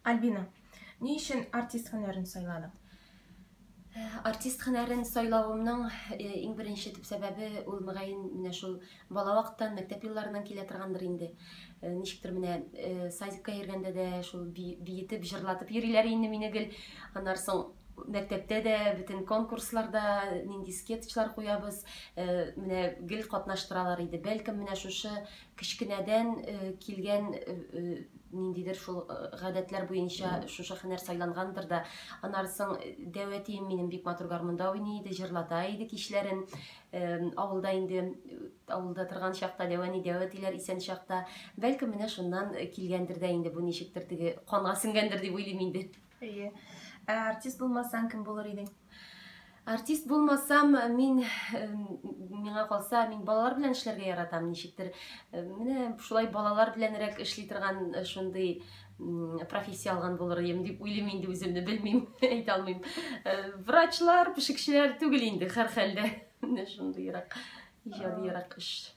Альбина, ни өчен артист һөнәрен сайладың? Э, артист һөнәрен сайлавымның э, иң беренче төп сәбәбе ул мөгаен менә шул бала вакыттан мәктәп елларыннан килә торгандыр инде э, ничектер менә садикка йөргәндә дә шул биетеп җырлатып йөриләр инде мине гел аннан соң мәктәптә дә бөтен конкурсларда нинди скетчлар куябыз менә гел катнаштыралар иде бәлкем менә шушы кечкенәдән килгән ниндидер шул гадәтләр буенча шушы хәнәр сайлангандыр да анарсың дәвәтием минем бик матур гармунда уйный иде җырлата иде кичләрен авылда инде авылда торган чакта дәвәни дәвәтиләр исән чакта бәлкем менә шуннан килгәндер дә инде бу ничектер теге канга сеңгәндер дип уйлыйм инде Әйе. Ә артист булмасаң, кем булыр идең? Артист булмасам, мин миңа калса, мин балалар белән эшләргә яратам, ничектер. Менә шулай балалар беләнрәк эшли торган э, шундый профессия алган булыр идем дип уйлыйм инде үземне, белмим, әйтә алмыйм. Э, врачлар, пешекчеләр түгел инде һәрхәлдә. Менә шундыйрак иҗадыйрак эш.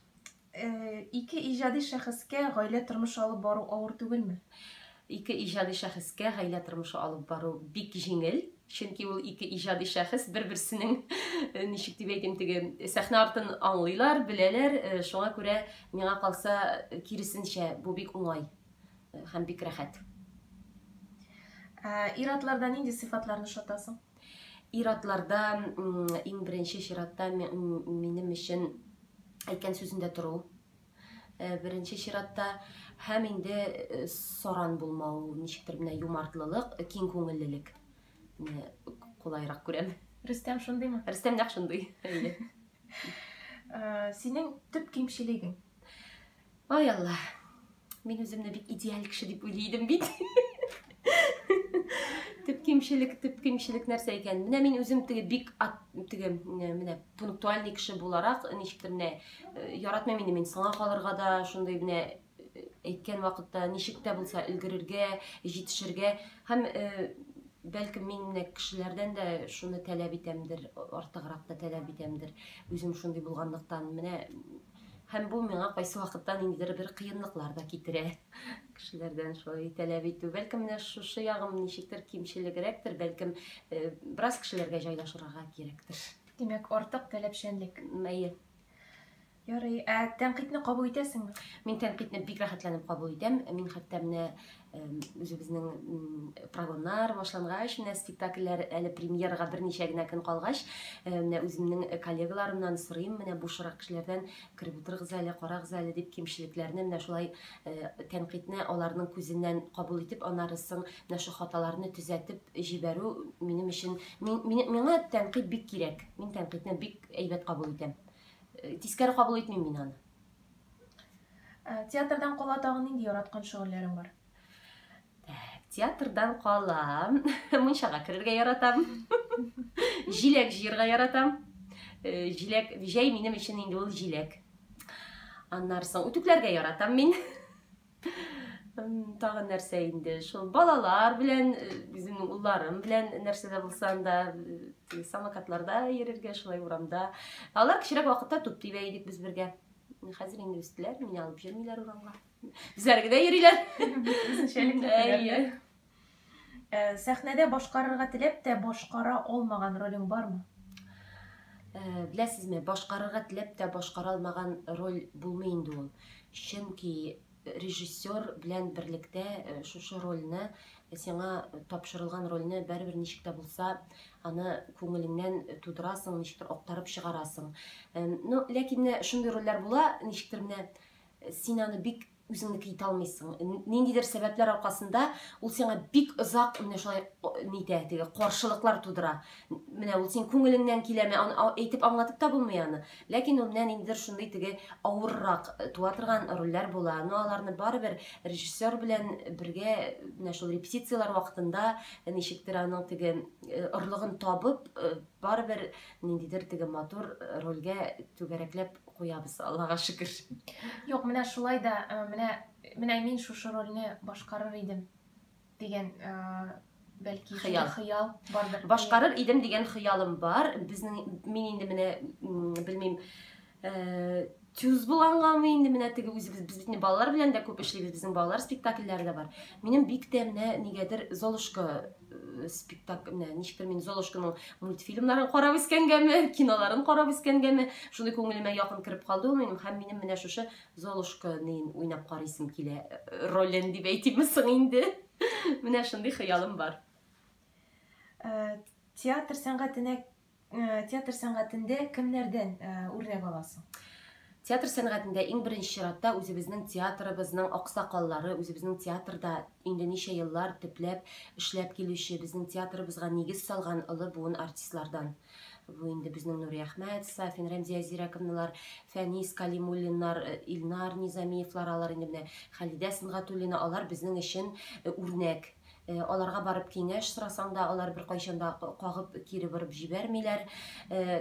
Ике иҗади шәхескә гаилә тормышы алып бару авыр түгелме? Ике иҗади шәхескә гаилә тормышы алып бару бик җиңел, чөнки ул ике иҗади шәхес бер-берсенең, ничек дип әйтим, теге сәхнә артын аңлыйлар, беләләр, шуңа күрә миңа калса, киресенчә, бу бик уңай һәм бик рәхәт. Ир-атларда нинди сыйфатларны ошатасың? Ир-атларда иң беренче чиратта минем өчен әйткән сүзендә тору. Э, беренче чиратта һәм инде э, саран булмау, ничектер менә юмартлылык, э, киң күңеллелек. Менә кулайрак күрәм. Рөстәм шундыймы? Рөстәм нәкъ шундый. Әйе. Синең төп кимчелегең? Ой, Алла, мин үземне бик идеаль кеше дип уйлый идем бит. Төп кимчелек, төп кимчелек нәрсә икән? Менә мин үзем теге бик ат, теге менә пунктуальный кеше буларак, ничектер менә э, яратмыйм инде мин саңа калырга да, шундый менә э, әйткән вакытта ничек тә булса өлгерергә, җитешергә һәм э, бәлкем мин менә кешеләрдән дә шуны таләп итәмдер, артыграк та таләп итәмдер. Үзем шундый булганлыктан менә Һәм бу миңа кайсы вакытта ниндидер бер кыенлыклар да китерә. Кешеләрдән шулай таләп итү. Бәлкем менә шушы ягым ничектер кимчелегрәктер, бәлкем э, бераз кешеләргә җайлашырга кирәктер. Димәк, артык таләпчәнлек. Әйе. Ярый, ә тәнкыйтьне кабул итәсеңме? Мин тәнкыйтьне бик рәхәтләнеп кабул итәм. Мин хәтта менә үзебезнең прогоннар башлангач менә спектакльләр әле премьерага берничә генә көн калгач менә үземнең коллегаларымнан сорыйм менә бушырак кешеләрдән кереп утырыгыз әле карагыз әле дип кимчелекләрне менә шулай тәнкыйтьне аларның күзеннән кабул итеп аннары соң менә шул хаталарны төзәтеп җибәрү минем өчен миңа тәнкыйть бик кирәк мин тәнкыйтьне бик әйбәт кабул итәм тискәре кабул итмим мин аны Э, театрдан кала тагын нинди яраткан шөгыльләрең бар? Э, театрдан кала мунчага керергә яратам. Җиләк җыярга яратам. Э, җиләк җәй минем өчен инде ул җиләк. Аннары соң үтүкләргә яратам мин. Тагын нәрсә инде, шул балалар белән, үземнең улларым белән нәрсә дә булса анда самокатларда йөрергә, шулай урамда. Алар кечерәк вакытта туп тибә идек без бергә. Хәзер инде үстеләр, мине алып йөрмиләр урамга. Үзләре генә йөриләр. Үзенчәлекле. Ә, сәхнәдә башкарырга теләп тә башкара алмаган ролең бармы? Ә, беләсезме, башкарырга теләп тә башкара алмаган роль булмый инде ул. Чөнки режиссер белән берлектә э, шушы рольне, э, сиңа тапшырылган рольне бәрбер ничек тә булса, аны күңелеңнән тудырасың, ничектер актарып чыгарасың. Э, ну, ләкин менә шундый рольләр була, ничектер менә син аны бик үзеңне тыйта алмыйсың. Ниндидер сәбәпләр аркасында ул сиңа бик озак менә шулай нитә, теге каршылыклар тудыра. Менә ул син күңелеңнән киләме, әйтеп аңлатып та булмый аны. Ләкин ул менә ниндидер шундый теге авыррак э, туа торган рольләр була. Но аларны барыбер режиссер белән бергә менә шул репетицияләр вакытында э, ничектер аның теге э, орлыгын табып, барыбер ниндидер теге матур рольгә түгәрәкләп куябыз, Аллага шөкер. Юк, менә шулай да, э, менә, менә мин шушы рольне башкарыр идем дигән э, бәлки хыял. хыял бардыр. Башкарыр идем дигән хыялым бар. Безнең мин инде менә белмим э, тюз булгангамы инде менә теге үзебез без бит балалар белән дә күп эшлибез, безнең балалар спектакльләре дә бар. Минем бик тә менә нигәдер Золушка спектакль менә ничектер мин золушканың мультфильмнарын карап үскәнгәме киноларын карап үскәнгәме шундый күңелемә якын кереп калды ул минем һәм минем менә шушы золушканы уйнап карыйсым килә э, ролен дип әйтимме соң инде менә шундый хыялым бар э, театр сәнгатенә Э, театр сәнгатендә кемнәрдән э, үрнәк аласың? Театр сәнгатендә иң беренче чиратта үзебезнең театрыбызның аксакаллары, үзебезнең театрда инде ничә еллар төпләп эшләп килүче, безнең театрыбызга нигез салган олы буын артистлардан. Бу инде безнең Нури Әхмәт, Сафин Рәмзия Зирәковналар, Фәнис Калимуллиннар, э, Илнар Низамиевлар алар инде менә Хәлидә Сынгатуллина алар безнең өчен үрнәк. Аларга барып киңәш сорасаң да, алар беркайчан да кагып кире борып җибәрмиләр.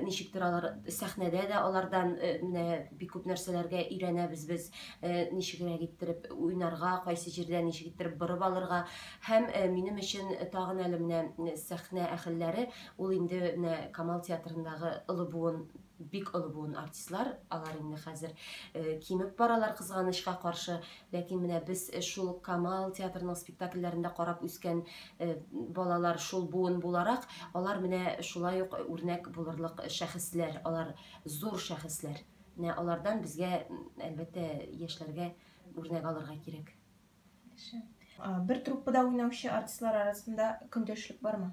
Ничектер алар сәхнәдә дә алардан менә бик күп нәрсәләргә өйрәнәбез без. Ничегрәк иттереп уйнарга, кайсы җирдә ничек иттереп борып алырга. Һәм минем өчен тагын әле менә сәхнә әһелләре, ул инде менә Камал театрындагы олы буын, бик олы буын артистлар, алар инде хәзер кимеп баралар, кызганычка каршы. Ләкин менә без шул ук Камал театрының спектакльләрендә карап үскән балалар, шул буын буларак, алар менә шулай ук үрнәк булырлык шәхесләр, алар зур шәхесләр. Менә алардан безгә, әлбәттә, яшьләргә үрнәк алырга кирәк. Яхшы. Бер труппада уйнаучы артистлар арасында көндәшлек бармы?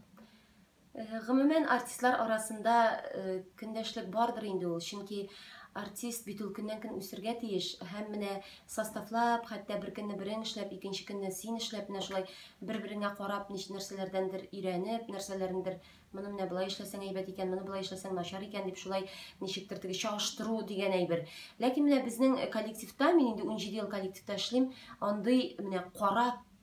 Гомумән, артистлар арасында көндәшлек бардыр инде ул, чөнки артист бит ул көннән-көн үсергә тиеш һәм менә составлап, хәтта бер көнне берең эшләп, икенче көнне син эшләп, менә шулай бер-береңә карап, нич нәрсәләрдәндер өйрәнеп, нәрсәләрендер моны менә болай эшләсәң әйбәт икән, моны болай эшләсәң начар икән дип шулай ничектер теге чагыштыру дигән әйбер. Ләкин менә безнең коллективта, мин инде 17 ел коллективта эшлим, андый менә карап,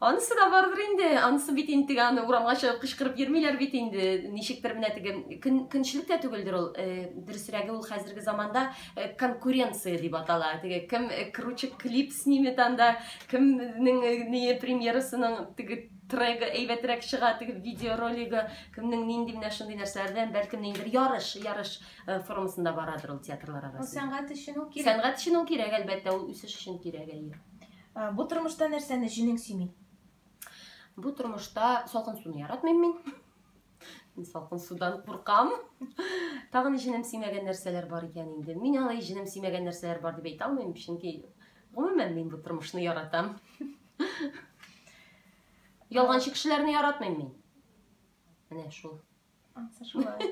Анысы да бардыр инде, анысы бит интег аны урамга чыгып кычкырып йөрмиләр бит инде. Ничектер менә теге көн, көнчелек тә түгелдер ул. Э, дөресрәге ул хәзерге заманда э, конкуренция дип атала. Теге кем э, круче клип снимет анда, кемнең э, ни премьерасының теге трегы әйбәтрәк чыга, теге видеоролигы, кемнең нинди менә шундый нәрсәләрдән, бәлкем ниндидер ярыш, ярыш э, формасында барадыр ул театрлар арасында. Сәнгать өчен ул кирәк. Сәнгать өчен ул кирәк, әлбәттә, ул үсеш өчен кирәк, әйе. Ә, Бу тормышта нәрсәне җинең сөйми? Бу тормышта салкын суны яратмыйм мин. Мин салкын судан куркам. Тагын ни җинем сөймәгән нәрсәләр бар икән инде. Мин алай җинем сөймәгән нәрсәләр бар дип әйтә алмыйм, чөнки гомумән мин бу тормышны яратам. Ялганчы кешеләрне яратмыйм мин. Менә шул. Ансы шулай.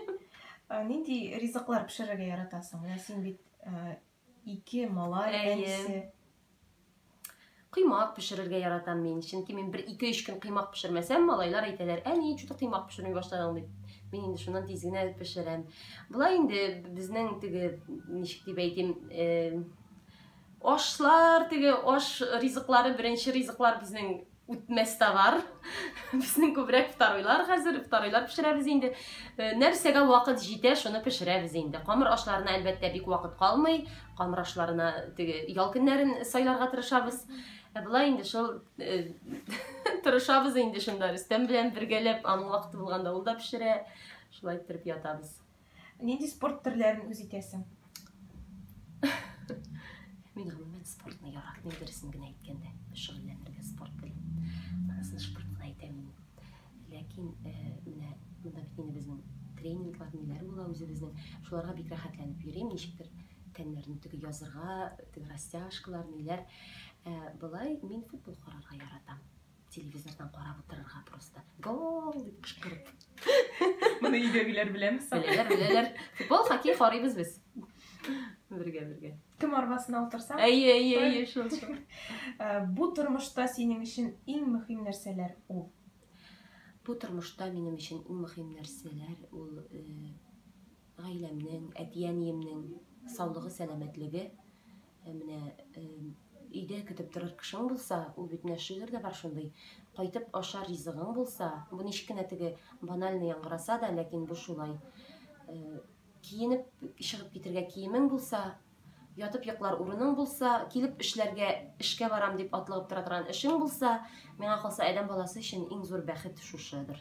Ә, Нинди ризыклар пешерергә яратасың? Менә син бит ә, Ике малай әнисе. Кыймак пешерергә яратам мин. Чөнки мин бер ике өч көн кыймак пешермәсәм, малайлар әйтәләр, әни, чуты кыймак пешерми башладың дип. Мин инде шуннан тиз генә пешерәм. Болай инде безнең теге, ничек дип әйтим, ашлар теге аш ризыклары беренче ризыклар безнең Үтмәс товар. Безнең күбрәк второйлар хәзер, второйлар пешерәбез инде. Э, нәрсәгә вакыт җитә, шуны пешерәбез инде. Камыр ашларына әлбәттә бик вакыт калмый. Камыр ашларына теге ял көннәрен сайларга тырышабыз. Ә болай инде шул э, тырышабыз инде шунда. Рөстәм белән бергәләп аның вакыты булганда ул да пешерә. Шулай иттереп ятабыз. Нинди спорт төрләрен үз итәсең? Мин гомумән спортны яратмыйм, дөресен генә әйткәндә, шөгыльләнергә спорт белән. Анысын спорт кына әйтәм мин. Ләкин э, менә монда бит инде безнең тренинглар, ниләр була үзебезнең. Шуларга бик рәхәтләнеп йөрим, ничектер тәннәрне теге язырга, теге растяжкалар, ниләр. Э, Былай мин футбол карарга яратам. Телевизордан карап утырырга просто. Гол дип кычкырып. Моны өйдәгеләр беләме соң? Беләләр, беләләр. Футбол, хоккей карыйбыз без. Бергә, бергә. Кем арбасына утырса? Әйе, әйе, әйе, шул, шул. Э, бу тормышта синең өчен иң мөһим нәрсәләр ул? Бу тормышта минем өчен иң мөһим нәрсәләр ул э, гаиләмнең, әти-әниемнең саулыгы, сәламәтлеге Ә менә өйдә көтеп торыр кешең булса, ул бит менә шигырь дә бар шундый, кайтып ашар ризыгың булса, бу ничек кенә теге банально яңгыраса да, ләкин бу шулай. Киенеп чыгып китергә киемең булса, ятып йоклар урының булса, килеп эшләргә, эшкә барам дип атлыгып тора торган эшең булса, миңа калса, адәм баласы өчен иң зур бәхет шушыдыр.